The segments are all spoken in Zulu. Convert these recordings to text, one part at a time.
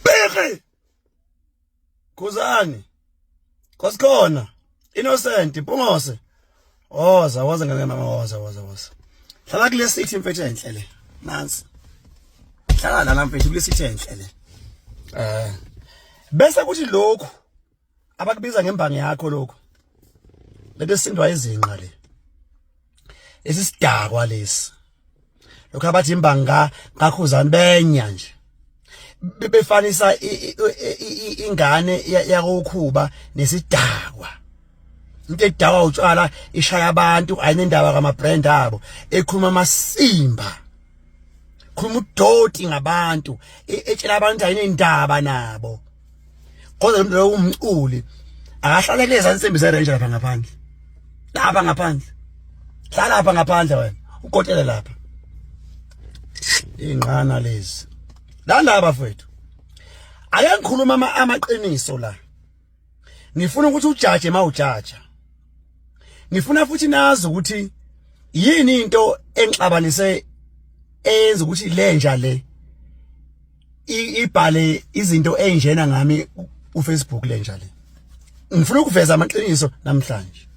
Bheke! Khuzani. Kosikhona. Innocent, Pungose. Oza, oh, waza ngeke mama waza waza waza. Hlala kule seat mfethu enhle le. Nansi. Hlala la mfethu kule seat enhle le. Eh. Bese kuthi lokhu abakubiza ngembangi yakho lokho lento esindwa izinqa le lesi sidakwa lesi lokho abathi imbangi ka kakhuzani benya nje bebefanisa ingane yakokhuba nesidakwa into edakwa utshwala ishaya abantu ayinendaba kama brand abo ekhuluma amasimba khuluma udoti ngabantu etshela abantu ayinendaba nabo kodwa lo mntu lowo umculi akahlale kulezi ansimbi zerenje lapha ngaphandle lapha ngaphandle hlala lapha ngaphandle wena ukotele lapha inqana lezi landa bafethu ake ngikhuluma amaqiniso la ngifuna ukuthi ujaje mawujaja ngifuna futhi nazi ukuthi yini into engixabanise eyenza ukuthi lenja le ibhale izinto enjena ngami uFacebook lenja le ngifuna ukuveza amaqiniso namhlanje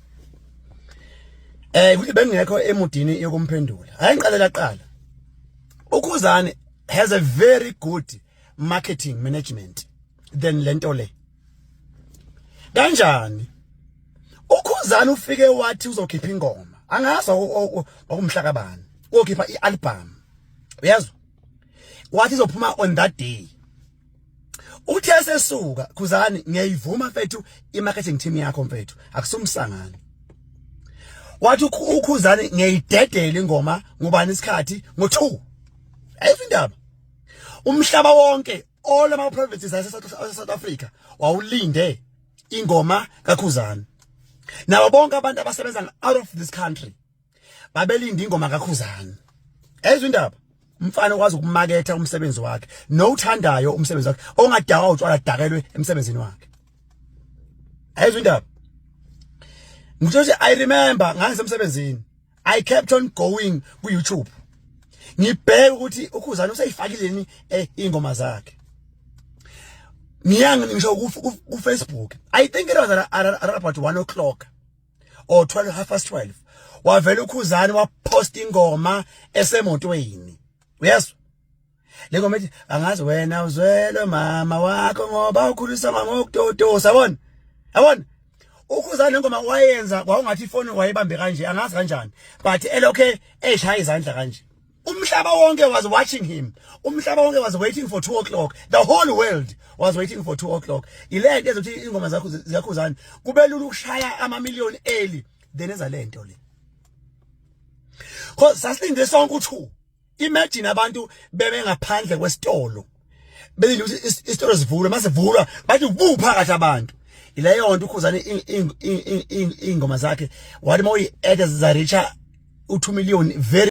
eh kuthi bengekho emudini yokumphendula hayi ngiqalela qala ukhuzane has a very good marketing management than lento le kanjani ukhuzane ufike wathi uzokhipha ingoma angazi okumhlaka bani uyokhipha ialbum uyazwa wathi izophuma on that day uthe esesuka khuzani ngiyayivuma mfethu i-marketing team yakho mfethu akusumsangano wathi ukhuzani ngiyayidedela ingoma ngubani isikhathi ngo-two ayikho indaba umhlaba wonke all ama provinces ase South Africa wawulinde ingoma kakhuzana nabo bonke abantu abasebenza out of this country babelinda ingoma kakhuzani ezwe indaba umfana okwazi ukumaketha umsebenzi wakhe nowuthandayo umsebenzi wakhe ongadakwa utshwala dakelwe emsebenzini wakhe ezwe indaba ngisho nje i remember ngangisemsebenzini i kept on going ku YouTube ngibheke ukuthi ukhuzani useyifakileni eh, ingoma zakhe ngiyangi ngisho ku Facebook i think it was around about 1 o'clock or 12 half past 12 wavela ukhuzani wapost ingoma esemotweni uyezwa lengoma ethi angazi wena uzwelwe mama wakho ngoba ukhulisa mama ngokutotosa yabona yabona ukhuzani lengoma wayenza kwakungathi ifoni wayebambe kanje angazi kanjani but elokhe eshaya izandla kanje umhlaba wonke was watching him umhlaba wonke was waiting for 2 o'clock the whole world was waiting for 2 o'clock ile nto ezothi ingoma zakho ziyakhuzana kube lula ukushaya ama million eli then eza le nto le cause sasilinde sonke u2 imagine abantu bebe ngaphandle kwesitolo belinde ukuthi isitolo sivulwe mase vulwa bathi ubu phakathi abantu ileyo nto ukhuzane ingoma zakhe wathi mawuyi add za reach u2 million very